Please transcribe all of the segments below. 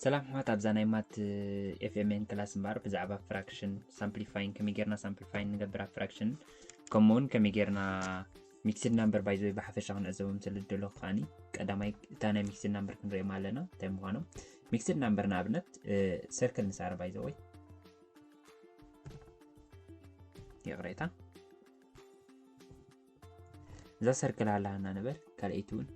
ሰላም ሕዋት ኣብዛ ናይ ማት ኤፍኤምኤን ክላስ እምበኣር ብዛዕባ ፍራክሽን ሳምፕሊፋይን ከመይ ጌርና ሳምፕሊፋይን ንገብር ኣብ ፍራክሽን ከምኡ እውን ከመይ ጌርና ሚክስድ ናምበር ባይዘ ወይ ብሓፈሻ ክንዕዘቦም ስለ ዝደለኹ ከዓኒ ቀዳማይ እታ ናይ ሚክስድ ናምበር ክንሪኦም ኣለና እንታይ ምዃኖም ሚክስድ ናምበር ንኣብነት ሰርክል ንሳረ ባይዘ ወይ ይቕሬታ እዛ ሰርክል ኣላና ነበር ካልኣይቲ እውን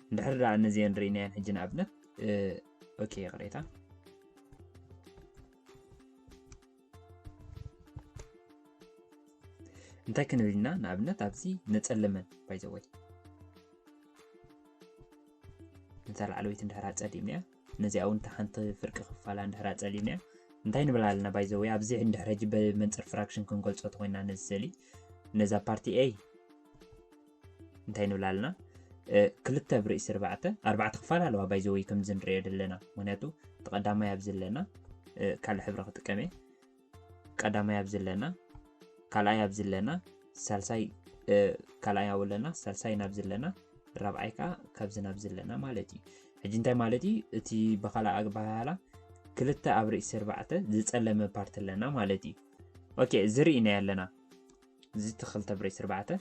እንድሕር ደኣ እነዚአን ርኢናየን ሕጂ ንኣብነት ኦኬ ይቕሬታ እንታይ ክንብል ኢና ንኣብነት ኣብዚ ነፀለመን ባይዘወይ ነታ ላዕለወይቲ እንድሕር ኣፀሊምናያ ነዚኣ ውን እታ ሓንቲ ፍርቂ ክፋላ እንድሕር ኣጸሊእናዮ እንታይ ንብል ኣለና ባይ ዘወይ ኣብዚ እንድሕር ሕጂ ብመንጽር ፍራክሽን ክንገልጾ ተኮይና ነዚ ስእሊ ነዛ ፓርቲ ኤይ እንታይ ንብል ኣለና ክልተ ብርእሲ ርባዕተ ኣርባዕተ ክፋል ኣለዋ ባይ ዘወይ ከምዚ ንሪኦ ዘለና ምክንያቱ ተቐዳማይ ኣብዚ ኣለና ካልእ ሕብሪ ክጥቀም እየ ቀዳማይ ኣብዚ ኣለና ካልኣይ ኣብዚ ኣለና ሳልሳይ ካልኣይ ኣብ ኣለና ሳልሳይ ናብዚ ኣለና ራብዓይ ከዓ ካብዚ ናብዚ ኣለና ማለት እዩ ሕጂ እንታይ ማለት እዩ እቲ ብካልኣ ኣግባሃላ ክልተ ኣብ ርእሲ ኣርባዕተ ዝፀለመ ፓርቲ ኣለና ማለት እዩ ኦኬ እዚ ርኢናዮ ኣለና እዚ እቲ ክልተ ኣብ ርእሲ ኣርባዕተ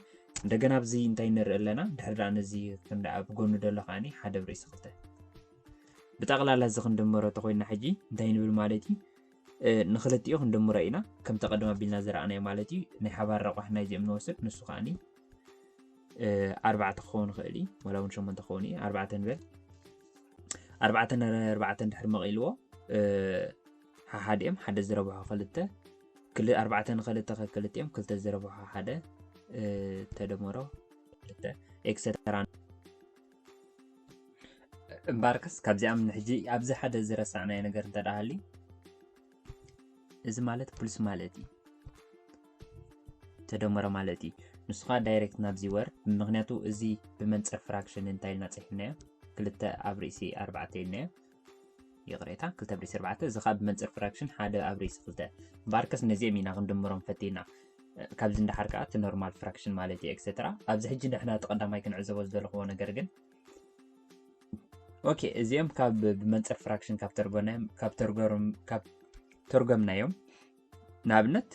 እንደገና ኣብዚ እንታይ ንርኢ ኣለና ድሕሪ ደኣ ነዚ ክንደኣ ብጎኑ ደሎ ከዓኒ ሓደ ኣብ ርእሲ ክልተ ብጠቕላላ እዚ ክንድመሮ ተኮይንና ሕጂ እንታይ ንብል ማለት እዩ ንክልቲኡ ክንድምሮ ኢና ከምቲ ቀደም ኣቢልና ዝረኣናዮ ማለት እዩ ናይ ሓባር ረቋሒ ናይዚኦም ንወስድ ንሱ ከዓኒ ኣርባዕተ ክኸውን ይኽእል እዩ ዋላ እውን ሸሞንተ ክኸውን እዩ ኣርባዕተ ንበል ኣርባዕተ ንኣርባዕተ ድሕሪ መቒልዎ ሓሓዲኦም ሓደ ዝረብሖ ክልተ ኣርባዕተ ንክልተ ከክልቲኦም ክልተ ዝረብሖ ሓደ ተደመሮ ክልተ ኤክሰተራ እምበኣርከስ ካብዚኣም ንሕጂ ኣብዚ ሓደ ዝረሳዕናዮ ነገር እንተ ደኣ ሃልዩ እዚ ማለት ፕሉስ ማለት እዩ ተደመረ ማለት እዩ ንሱ ከዓ ዳይሬክት ናብዚ ወርድ ምክንያቱ እዚ ብመንፅር ፍራክሽን እንታይ ኢልና ፅሒፍናዮ ክልተ ኣብ ርእሲ ኣርባዕተ ኢልናዮ ይቕሬታ ክልተ ኣብ ርእሲ ኣርባዕተ እዚ ከኣ ብመንጽር ፍራክሽን ሓደ ኣብ ርእሲ ክልተ ባርከስ ነዚኦም ኢና ክንድምሮም ፈቲና ካብዚ እንዳሓር ከኣ እቲ ኖርማል ፍራክሽን ማለት እዩ ኤክሰትራ ኣብዚ ሕጂ ንሕና እቲ ቀዳማይ ክንዕዘቦ ዝደለኹዎ ነገር ግን ኦኬ እዚኦም ካብ ብመንፅር ፍራክሽን ካብ ተርጎናዮም ካብ ተርጎርም ካብ ተርጎምናዮም ንኣብነት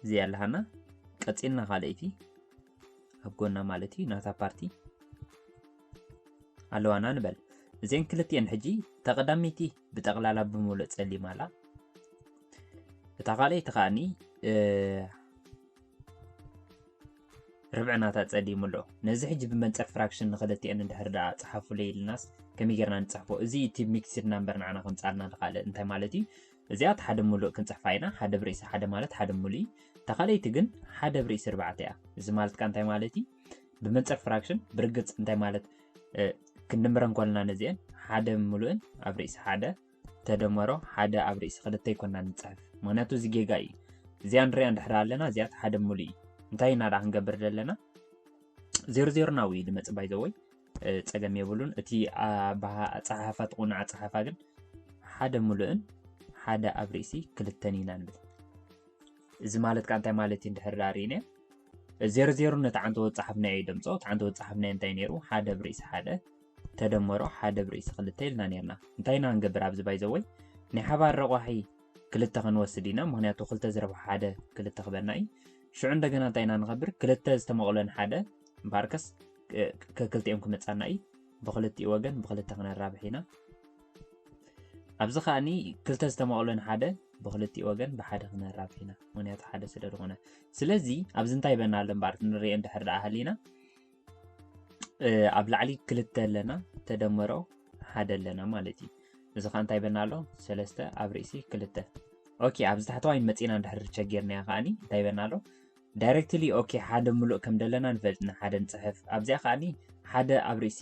እዚኣ ኣለሃና ቀፂልና ካልኣይቲ ኣብ ጎና ማለት እዩ ናታ ፓርቲ ኣለዋና ንበል እዚን ክልትኤን ሕጂ ተቐዳሚቲ ብጠቕላላ ብምሉእ ፀሊም ኣላ እታ ካልኣይቲ ከዓኒ ርብዕናታት ጸሊሙ ኣሎ። ነዚ ሕጂ ብመንጽር ፍራክሽን ንክልቲኤን እንድሕር ደኣ ጸሓፉለይ ኢልናስ ከመይ ጌርና ንጽሕፎ? እዚ እቲ ሚክስድ ናምበር ንዓና ከምጽኣልና ንኻልእ እንታይ ማለት እዩ? እዚኣ እቲ ሓደ ምሉእ ክንጽሕፋ ኢና፣ ሓደ ብርእሲ ሓደ ማለት ሓደ ምሉእ እዩ። እታ ካልኣይቲ ግን ሓደ ብርእሲ ኣርባዕተ እያ። እዚ ማለት ከኣ እንታይ ማለት እዩ? ብመንጽር ፍራክሽን ብርግጽ እንታይ ማለት ክንድምረን ኮለና ነዚኤን ሓደ ምሉእን ኣብ ርእሲ ሓደ ተደመሮ ሓደ ኣብ ርእሲ ክልተ ኣይኮናን ንጽሕፍ ምክንያቱ እዚ ጌጋ እዩ እዚኣ ንሪኣ እንድሕር ኣለና እዚኣ ሓደ ሙሉ እዩ እንታይ ኢና ደኣ ክንገብር ዘለና ዜሮ ዜሮና ውዩ ድመጽ ባይዘወይ ጸገም የብሉን እቲ ኣጸሓሓፋ ትቑኑ ኣጸሓፋ ግን ሓደ ሙሉእን ሓደ ኣብ ርእሲ ክልተን ኢና ንብል እዚ ማለት ከዓ እንታይ ማለት እዩ እንድሕር ዳሪነ ዜሮ ዜሮ ነቲ ዓንተ ወፀሓፍናዮ ይደምፆ እቲ ዓንተ ወፀሓፍናዮ እንታይ ነይሩ ሓደ ኣብ ርእሲ ሓደ ተደመሮ ሓደ ብ ርእሲ ክልተ ኢልና ኔርና እንታይ ኢና ክንገብር ኣብዚ ባይዘወይ ናይ ሓባር ረቋሒ ክልተ ክንወስድ ኢና ምክንያቱ ክልተ ዝረብሖ ሓደ ክልተ ክበና እዩ ሽዑ እንደገና እንታይ ኢና ንከብር ክልተ ዝተመቕሎን ሓደ እምበኣርከስ ከክልቲኦም ክመጻና እዩ ብክልቲኡ ወገን ብክልተ ክነራብሕ ኢና ኣብዚ ከዓኒ ክልተ ዝተመቕሎን ሓደ ብክልቲኡ ወገን ብሓደ ክነራብሕ ኢና ምክንያቱ ሓደ ስለ ዝኾነ ስለዚ ኣብዚ እንታይ በና ኣሎ እምበኣር ክንሪኦ እንድሕር ደኣ ሃሊና ኣብ ላዕሊ ክልተ ኣለና ተደመሮ ሓደ ኣለና ማለት እዩ እዚ ከዓ እንታይ በና ኣሎ ሰለስተ ኣብ ርእሲ ክልተ ኦኬ ኣብዚ ታሕተዋይ መፂና እንድሕር ቸጌርናያ ከዓኒ እንታይ በና ኣሎ ዳይሬክትሊ ኦኬ ሓደ ምሉእ ከም ደለና ንፈልጥ ንሓደ ንፅሕፍ ኣብዚኣ ከዓኒ ሓደ ኣብ ርእሲ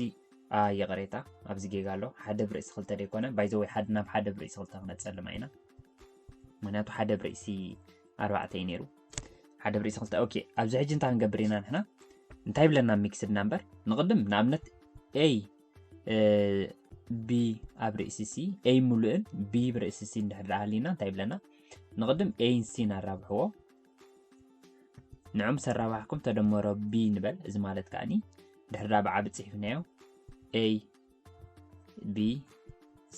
ይቕሬታ ኣብዚ ጌጋ ኣሎ ሓደ ብርእሲ ክልተ ደይኮነ ባይዘወይ ሓደ ናብ ሓደ ብርእሲ ክልተ ክነፀልማ ኢና ምክንያቱ ሓደ ብርእሲ ኣርባዕተ እዩ ነይሩ ሓደ ብሪሲ ክልተ ኦኬ ኣብዚ ሕጂ እንታይ ክንገብር ኢና ንሕና እንታይ ብለና ሚክስድ ናምበር ንቕድም ንኣብነት ኤይ ቢ ኣብ ርእሲ ሲ ኤይ ሙሉእን ቢ ብርእሲ ሲ እንድሕር ደኣ ሃሊና እንታይ ብለና ንቕድም ኤይን ሲን ኣራብሕዎ ንዑም ሰራባሕኩም ተደመሮ ቢ ንበል እዚ ማለት ከዓኒ ድሕር ደኣ ብዓቢ ፅሒፍናዮ ኤይ ቢ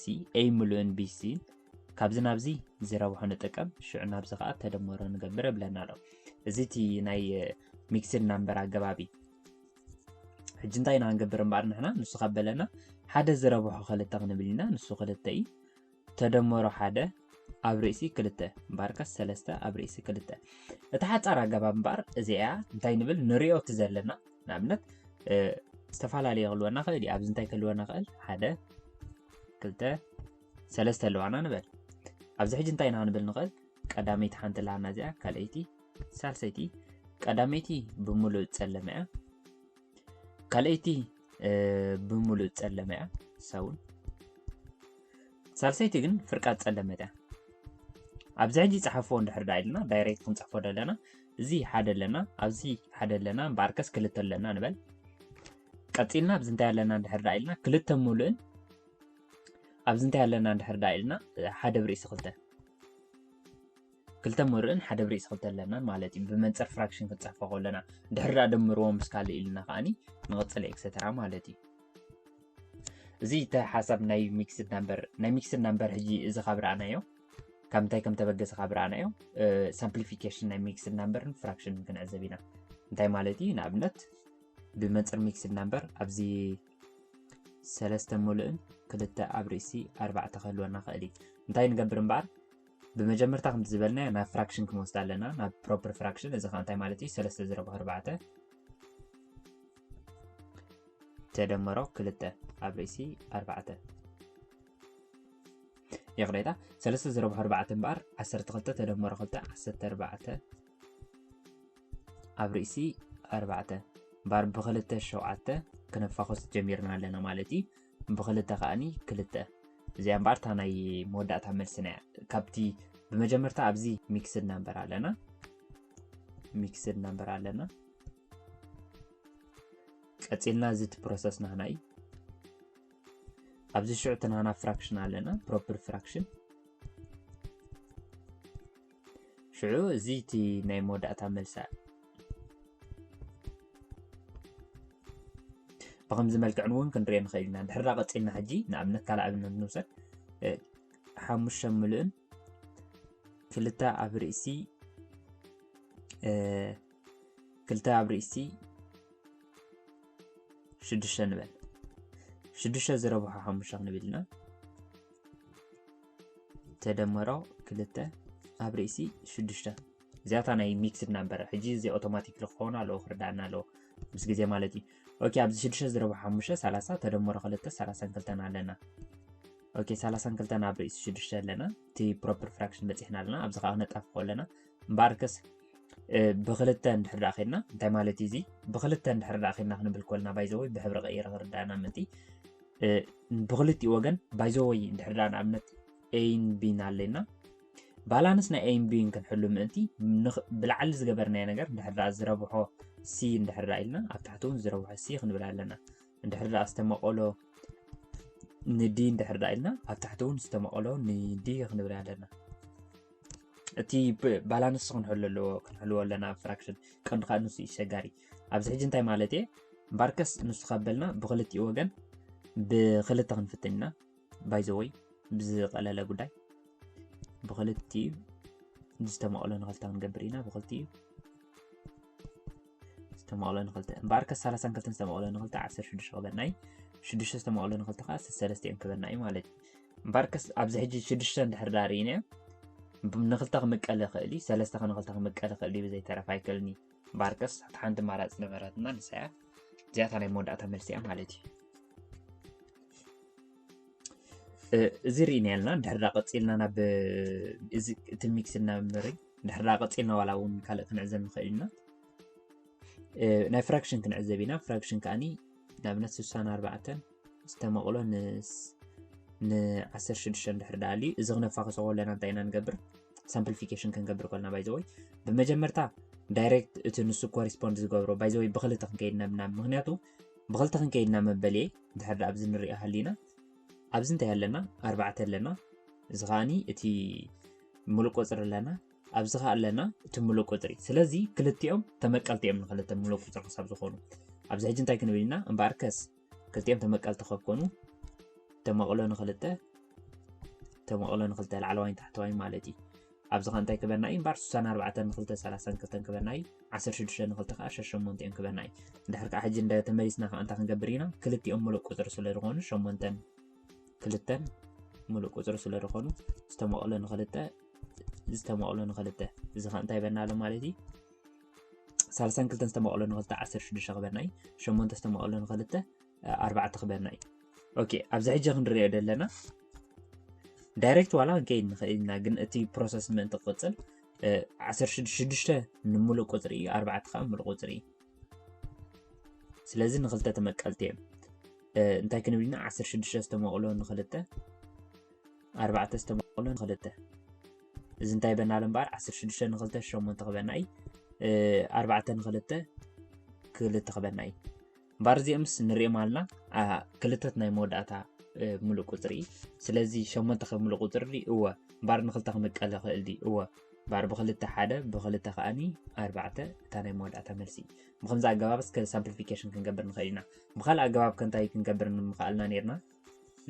ሲ ኤ ምሉእን ቢ ሲ ካብዚ ናብዚ ዝረብሖ ንጥቀም ሽዑ ናብዚ ከዓ ተደመሮ ንገብር ብለና ኣሎ እዚ እቲ ናይ ሚክስድ ናምበር ኣገባቢ ሕጂ እንታይ ኢና ክንገብር እምበኣር ንሕና ንሱ ካብ በለና ሓደ ዝረብሖ ክልተ ክንብል ኢና ንሱ ክልተ እዩ ተደመሮ ሓደ ኣብ ርእሲ ክልተ እምበኣርከስ ሰለስተ ኣብ ርእሲ ክልተ እታ ሓፃር ኣገባብ እምበኣር እዚኣ እንታይ ንብል ንሪኦ እቲ ዘለና ንኣብነት ዝተፈላለየ ክህልወና ክእል እዩ ኣብዚ እንታይ ክህልወና ክእል ሓደ ክልተ ሰለስተ ኣለዋና ንበል ኣብዚ ሕጂ እንታይ ኢና ክንብል ንኽእል ቀዳመይቲ ሓንቲ ላና እዚኣ ካልኣይቲ ሳልሰይቲ ቀዳመይቲ ብምሉእ ፀለመ እያ ካልኣይቲ ብምሉእ ፀለመ እያ ንሳ እውን ሳልሰይቲ ግን ፍርቃት ፀለመት እያ ኣብዚ ሕጂ ፀሓፎ እንድሕር ዳ ኢልና ዳይሬክት ክንፅሕፎ ደለና እዚ ሓደ ኣለና ኣብዚ ሓደ ኣለና እምበኣርከስ ክልተ ኣለና ንበል ቀፂልና ኣብዚ እንታይ ኣለና እንድሕር ዳ ኢልና ክልተ ሙሉእን ኣብዚ እንታይ ኣለና እንድሕር ዳ ኢልና ሓደ ብርእሲ ክልተ ክልተ ምርእን ሓደ ብርዒ ክልተ ኣለናን ማለት እዩ ብመንፅር ፍራክሽን ክንፅሕፎ ከለና ድሕር ዳኣ ደምርዎ ምስ ካልእ ኢልና ከዓኒ ንቕፅል ኤክሰተራ ማለት እዩ እዚ እቲ ሓሳብ ናይ ሚክስድ ናምበር ናይ ሚክስድ ናምበር ሕጂ እዚ ካብ ረኣናዮ ካብ እንታይ ከም ተበገሰ ካብ ረኣናዮ ሳምፕሊፊኬሽን ናይ ሚክስድ ናምበርን ፍራክሽንን ክንዕዘብ ኢና እንታይ ማለት እዩ ንኣብነት ብመንፅር ሚክስድ ናምበር ኣብዚ ሰለስተ ሙሉእን ክልተ ኣብ ርእሲ ኣርባዕተ ክህልወና ክእል እዩ እንታይ ንገብር እምበኣር ብመጀመርታ ከምቲ ዝበልናዮ ናብ ፍራክሽን ክንወስዳ ኣለና ናብ ፕሮፐር ፍራክሽን እዚ ከዓ እንታይ ማለት እዩ ሰለስተ ዝረብሑ ኣርባዕተ ተደመሮ ክልተ ኣብ ርእሲ ኣርባዕተ ይቕሬታ ሰለስተ ዝረብሑ ኣርባዕተ እምበኣር ዓሰርተ ክልተ ተደመሮ ክልተ ዓሰርተ ኣርባዕተ ኣብ ርእሲ ኣርባዕተ እምበኣር ብክልተ ሸውዓተ ክነፋኾስ ጀሚርና ኣለና ማለት እዩ ብክልተ ከኣኒ ክልተ እዚኣ እምበኣር እታ ናይ መወዳእታ መልስና እያ ካብቲ ብመጀመርታ ኣብዚ ሚክስድ ናምበር ኣለና ሚክስድ ናምበር ኣለና ቀፂልና እዚ እቲ ፕሮሰስ ናህና እዩ ኣብዚ ሽዑ እቲ ናህና ፍራክሽን ኣለና ፕሮፐር ፍራክሽን ሽዑ እዚ እቲ ናይ መወዳእታ መልሳ እዩ ብከምዚ መልክዕን እውን ክንሪኦ ንኽእል ኢና ድሕራ ቀፂልና ሕጂ ንኣብነት ካልእ ኣብነት ንውሰድ ሓሙሽተ ምሉእን ክልተ ኣብ ርእሲ ክልተ ኣብ ርእሲ ሽዱሽተ ንበል ሽዱሽተ ዝረብሖ ሓሙሽተ ክንብል ኢና ተደመሮ ክልተ ኣብ ርእሲ ሽዱሽተ እዚኣታ ናይ ሚክስድ ናምበር ሕጂ እዚ ኣውቶማቲክ ክኸውን ኣለዎ ክርዳእና ኣለዎ ምስ ግዜ ማለት እዩ ኦኬ ኣብዚ ሽዱሽተ ዝረብሑ ሓሙሽተ ሰላሳ ተደመሮ ክልተ ሰላሳን ክልተን ኣለና ኦኬ ሰላሳን ክልተን ኣብ ርእሲ ሽዱሽተ ኣለና እቲ ፕሮፐር ፍራክሽን በፂሕና ኣለና ኣብዚ ከዓ ነጣፍቆ ኣለና እምበኣርከስ ብክልተ እንድሕር ደኣ ኬድና እንታይ ማለት እዩ እዚ ብክልተ እንድሕር ደኣ ኬድና ክንብል ኮልና ባይዘወይ ብሕብሪ ቀይረ ክርዳእና ምእንቲ ብክልቲኡ ወገን ባይዘወይ እንድሕር ደኣ ንኣብነት ኤን ቢን ኣለና ባላንስ ናይ ኤን ቢን ክንሕሉ ምእንቲ ብላዕሊ ዝገበርናዮ ነገር እንድሕር ደኣ ዝረብሖ ሲ እንድሕር ደኣ ኢልና ኣብ ታሕቲ እውን ዝረብሖ ሲ ክንብል ኣለና እንድሕር ደኣ ዝተመቐሎ ንዲ እንድሕር ደኣ ኢልና ኣብ ታሕቲ እውን ዝተመቐሎ ንዲ ክንብል ኣለና እቲ ባላንስ ክንሕሉ ኣለዎ ክንሕልዎ ኣለና ኣብ ፍራክሽን ቀንዲ ከዓ ንሱ እዩ ሸጋሪ ኣብዚ ሕጂ እንታይ ማለት እየ እምበኣርከስ ንሱ ካበልና ብክልቲኡ ወገን ብክልተ ክንፍትን ኢና ባይዘወይ ብዝቀለለ ጉዳይ ብክልቲኡ ዝተመቕሎ ንክልተ ክንገብር ኢና ብክልቲኡ ዝተመቕሎ ንክልተ እምበኣርከ ሰላሳን ክልተን ዝተመቕሎ ንክልተ ዓሰርተ ሽዱሽተ ክበና እዩ ሽዱሽተ ዝተመቕሎ ንክልተ ከዓ ሰለስተ እዮም ክበና እዩ ማለት እዩ እምበኣርከስ ኣብዚ ሕጂ ሽዱሽተ እንድሕር ዳ ርኢናዮ ንክልተ ክምቀል ይኽእል እዩ ሰለስተ ከ ንክልተ ክምቀል ይኽእል እዩ ብዘይተረፍ ኣይክእልን እዩ እምበኣርከስ እቲ ሓንቲ ማራፂ ነበረትና ንሳ እያ እዚኣታ ናይ መወዳእታ መልሲ እያ ማለት እዩ እዚ ርኢና ኣለና ድሕር ዳ ቀፂልና ናብ እዚ እቲ ሚክስ እናምርይ ድሕራ ቀፂልና ዋላ እውን ካልእ ክንዕዘብ ንኽእል ኢና ናይ ፍራክሽን ክንዕዘብ ኢና ፍራክሽን ከዓኒ ንኣብነት 64 ዝተመቕሎ ን16 ድሕር ዳኣልዩ እዚ ክነፋኸሶ ከለና እንታይ ኢና ንገብር ሳምፕሊፊኬሽን ክንገብር ከልና ባይዘወይ ብመጀመርታ ዳይሬክት እቲ ንሱ ኮሪስፖንድ ዝገብሮ ባይዘወይ ብክልተ ክንከይድ ነብና ምክንያቱ ብክልተ ክንከይድና መበል እየ ድሕር ኣብዚ ንሪኦ ሃሊና ኣብዚ እንታይ ኣለና ኣርባዕተ ኣለና እዚ ከዓኒ እቲ ምሉእ ቁጽሪ ኣለና ኣብዚ ከ ኣለና እቲ ምሉእ ቁጽሪ ስለዚ ክልቲኦም ተመቀልቲ እዮም ንክልተ ምሉእ ቁጽሪ ክሳብ ዝኾኑ ኣብዚ ሕጂ እንታይ ክንብል ኢና እምበኣር ከስ ክልቲኦም ተመቀልቲ ከብ ኮኑ ተመቕሎ ንክልተ ተመቕሎ ንክልተ ላዕለዋይን ታሕተዋይ ማለት እዩ ኣብዚ ከ እንታይ ክበና እዩ እምበኣር 64 ንክልተ 32 ክበና እዩ 16 ንክልተ ከዓ 68 እዮም ክበና እዩ እንድሕር ከዓ ሕጂ እንደ ተመሊስና ከዓ እንታይ ክንገብር ኢና ክልቲኦም ምሉእ ቁጽሪ ስለ ዝኾኑ ሸሞንተን ክልተን ሙሉእ ቁፅሪ ስለ ዝኾኑ ዝተመቕሎ ንክልተ ዝተመቕሎ ንክልተ እዚ ከዓ እንታይ ይበና ኣሎ ማለት እዩ ሳልሳን ክልተን ዝተመቕሎ ንክልተ ዓሰርተ ሽዱሽተ ክበና እዩ ሸሞንተ ዝተመቕሎ ንክልተ ኣርባዕተ ክበና እዩ ኦኬ ኣብዚ ሕጂ ክንሪኦ ዘለና ዳይሬክት ዋላ ክንከይድ ንኽእል ኢና ግን እቲ ፕሮሰስ ምእንቲ ክቕፅል ዓሰርተ ሽዱሽተ ንምሉእ ቁፅሪ እዩ ኣርባዕተ ከዓ ምሉእ ቁፅሪ እዩ ስለዚ ንክልተ ተመቀልቲ እዮም እንታይ ክንብል ኢና ዓሰርተ ሽዱሽተ ዝተመቕሎ ንክልተ ኣርባዕተ ዝተመቕሎ ንክልተ እዚ እንታይ በና ኣሎ እምበኣር ዓሰርተ ሽዱሽተ ንክልተ ሸሞንተ ክበና እዩ ኣርባዕተ ንክልተ ክልተ ክበና እዩ እምበኣር እዚኦምስ ንሪኦም ኣለና ክልተት ናይ መወዳእታ ምሉእ ቁፅሪ እዩ ስለዚ ሸሞንተ ከብ ምሉእ ቁፅሪ ድዩ እወ እምበኣር ንክልተ ክምቀል ይኽእል ድዩ እወ እምበኣር ብክልተ ሓደ ብክልተ ከዓኒ ኣርባዕተ እታ ናይ መወዳእታ መልሲ እዩ ብከምዚ ኣገባብ እስከ ሳምፕሊፊኬሽን ክንገብር ንኽእል ኢና ብካልእ ኣገባብ ከንታይ ክንገብር ንምኽኣልና ነርና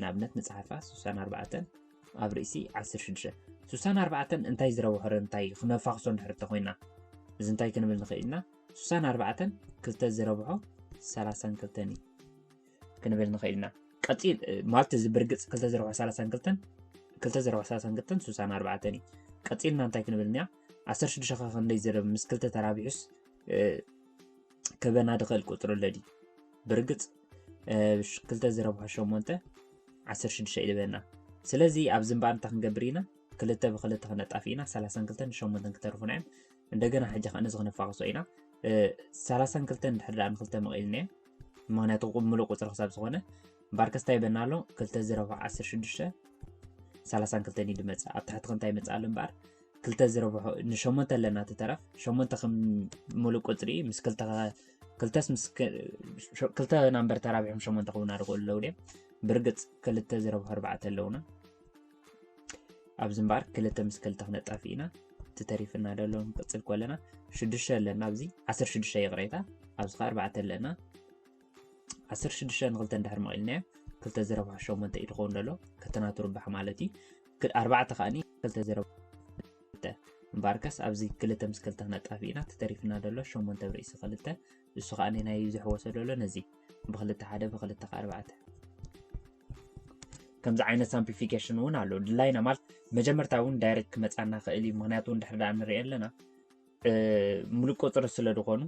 ንኣብነት ንጽሓፋ 64 ኣብ ርእሲ 16 64 እንታይ ዝረብሖ እንታይ ክነፋኽሶ ንሕርተ ኮይና እዚ እንታይ ክንብል ንኽእል ኢና 64 ክልተ ዝረብሖ 32 እዩ ክንብል ንኽእል ኢና ቀፂል ማለት እዚ ብርግፅ ክልተ ዝረብሖ 32 ክልተ ዝረብሖ 32 64 እዩ ቀፂልና እንታይ ክንብል እኒኣ 16 ከ ክንደይ ዝርብ ምስ ክልተ ተራቢሑስ ክበና ድኸል ቁፅሩ ኣለዲ ብርግፅ ክልተ ዝረብሖ ሸሞንተ ዓሰርተ ሽዱሽተ እዩ ዝበና ስለዚ ኣብዚ እምበኣር እንታይ ክንገብር ኢና ክልተ ብክልተ ክነጣፊ ኢና ሰላሳን ክልተን ሸሞንተን ክተርፉና እዮም እንደገና ሕጂ ከዓ ነዚ ክነፋቅሶ ኢና ሰላሳን ክልተን ድሕር ድኣ ንክልተ መቂልናዮ ምክንያቱ ምሉእ ቁፅሪ ክሳብ ዝኾነ ባርከስታ ይበና ኣሎ ክልተ ዝረብሖ ዓሰርተ ሽዱሽተ ሰላሳን ክልተን እዩ ድመፅእ ኣብ ታሕቲ ክንታይ ይመፅእ ኣሎ እምበኣር ክልተ ዝረብሖ ንሸሞንተ ኣለና ትተረፍ ሸሞንተ ከም ሙሉእ ቁፅሪ ምስ ክልተ ክልተስ ምስ ክልተ ናምበር ተራቢሖም ሸሞንተ ክውና ዝኽእሉ ኣለዉ ድም ብርግፅ ክልተ ዝረብሖ ኣርባዕተ ኣለውና ኣብዚ እምበኣር ክልተ ምስ ክልተ ክነጣፊ ኢና እቲ ተሪፍና ደሎ ንቅፅል ኮለና ሽዱሽተ ኣለና ኣብዚ ዓሰርተ ሽዱሽተ ይቕሬታ ኣብዚ ከዓ ኣርባዕተ ኣለና ዓሰርተ ሽዱሽተ ንክልተ እንድሕር መቒልናዮ ክልተ ዝረብሖ ሸሞንተ እዩ ዝኸውን ዘሎ ከተናቱ ርብሓ ማለት እዩ ኣርባዕተ ከዓኒ ክልተ ዝረብ እምበኣርከስ ኣብዚ ክልተ ምስ ክልተ ክነጣፊ ኢና ተተሪፍና ዘሎ ሸሞንተ ብርእሲ ክልተ እሱ ከዓኒ ናይ ዘሕወሰ ዘሎ ነዚ ብክልተ ሓደ ብክልተ ኣርባዕተ ከምዚ ዓይነት ሳምፕሊፊኬሽን እውን ኣሎ ድላይና ማለት መጀመርታ እውን ዳይሬክት ክመፃና ክእል እዩ ምክንያቱ እንድሕር ዳኣ ንሪኦ ኣለና ሙሉእ ቁፅሪ ስለ ዝኾኑ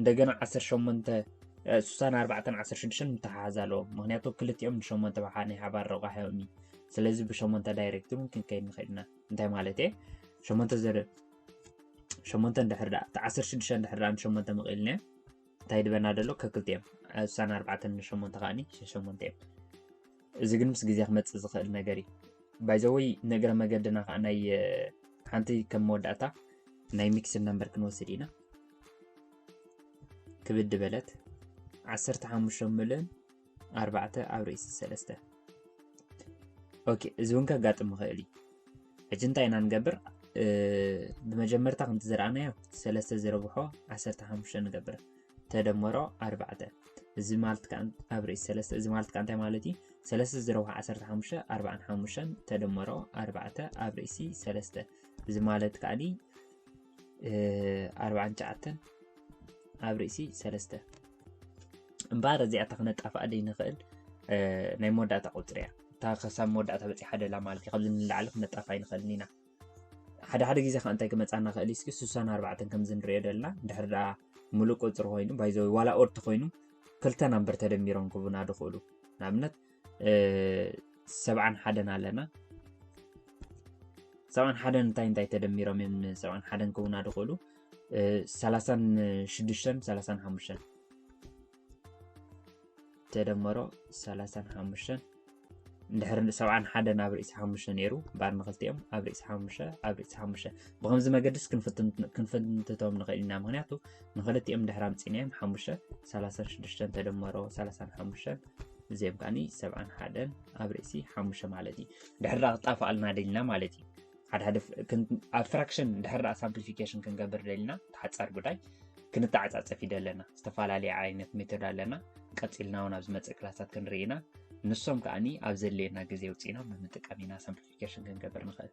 እንደገና ዓሰርተ ሸሞንተ ስሳን ኣርባዕተን ዓሰርተ ሽዱሽተን ምተሓሓዝ ኣለዎ ምክንያቱ ክልቲኦም ንሸሞንተ ብሓ ናይ ሓባር ረቋሒኦም እዩ ስለዚ ብሸሞንተ ዳይሬክት እውን ክንከይድ ንኽእል ኢና እንታይ ማለት እየ ሸሞንተ ዘ ሸሞንተ እንድሕር ዳኣ እቲ ዓሰርተ ሽዱሽተ እንድሕር ዳኣ ንሸሞንተ ምቕኢልና እዮም እንታይ ድበና ደሎ ከክልቲኦም ስሳን ኣርባዕተን ንሸሞንተ ከዓኒ ሸሞንተ እዮም እዚ ግን ምስ ግዜ ክመጽእ ዝኽእል ነገር እዩ ባይዘወይ ንእግረ መገድና ከዓ ናይ ሓንቲ ከም መወዳእታ ናይ ሚክስ ነምበር ክንወስድ ኢና ክብድ በለት 15 ምልን 4 ኣብ ርእሲ 3 ኦኬ እዚ እውን ከጋጥም ይኽእል እዩ ሕጂ እንታይ ኢና ንገብር ብመጀመርታ ከምቲ ዝረኣናዮ ሰለስተ ዝረብሖ 15 ንገብር ተደመሮ ኣርባዕተ እዚ ማለት ከዓ ኣብ ርእሲ ሰለስተ እዚ ማለት ከዓ እንታይ ማለት እዩ ሰለስተ ዝረብሖ ዓሰርተ ሓሙሽተ ኣርባዓን ሓሙሽተን ተደመሮ ኣርባዕተ ኣብ ርእሲ ሰለስተ እዚ ማለት ከዓ ኣርባዓን ትሽዓተን ኣብ ርእሲ ሰለስተ እምበኣር እዚኣታ ክነጣፍኣ ዘይንኽእል ናይ መወዳእታ ቁፅሪ እያ እታ ክሳብ መወዳእታ በፂሓ ደላ ማለት እዩ ካብዚ ንላዕሊ ክነጣፍኣ ኣይንኽእልን ኢና ሓደ ሓደ ግዜ ከዓ እንታይ ክመፃና ክእል እዩ እስኪ ስሳን ኣርባዕተን ከምዚ ንሪኦ ዘለና ድሕር ድኣ ሙሉእ ቁፅሪ ኮይኑ ባይዘ ዋላ ኦርት ኮይኑ ክልተ ናምበር ተደሚሮም ክቡና ድኽእሉ ንኣብነት ሰብዓን ሓደን ኣለና ሰብዓን ሓደን እንታይ እንታይ ተደሚሮም እዮም ሰብዓን ሓደን ክቡና ድኽእሉ ሰላሳን ሽዱሽተን ሰላሳን ሓሙሽተን ተደመሮ ሰላሳን ሓሙሽተን እንድሕር ሰብዓን ሓደ ናብ ርእሲ ሓሙሽተ ነይሩ እምበኣር ንክልቲኦም ኣብ ርእሲ ሓሙሽተ ኣብ ርእሲ ሓሙሽተ ብከምዚ መገድስ ክንፍትንትቶም ንኽእል ኢና ምክንያቱ ንክልቲኦም ድሕር ኣምፂናዮም ሓሙሽተ ሰላሳን ሽዱሽተን ተደመሮ ሰላሳን ሓሙሽተን እዚኦም ከዓኒ ሰብዓን ሓደን ኣብ ርእሲ ሓሙሽተ ማለት እዩ ድሕር ክጣፍኣልና ደልና ማለት እዩ ሓድሓደ ኣብ ፍራክሽን ድሕር ዳኣ ሳምፕሊፊኬሽን ክንገብር ደልና ተሓፃር ጉዳይ ክንተዓፃፀፍ ይደ ኣለና ዝተፈላለየ ዓይነት ሜቶድ ኣለና ቀፂልና እውን ኣብ ዝመፅእ ክላሳት ክንርኢና ንሶም ከዓኒ ኣብ ዘድልየና ግዜ ውፅኢና ብምጥቀም ኢና ሳምፕሊፊኬሽን ክንገብር ንኽእል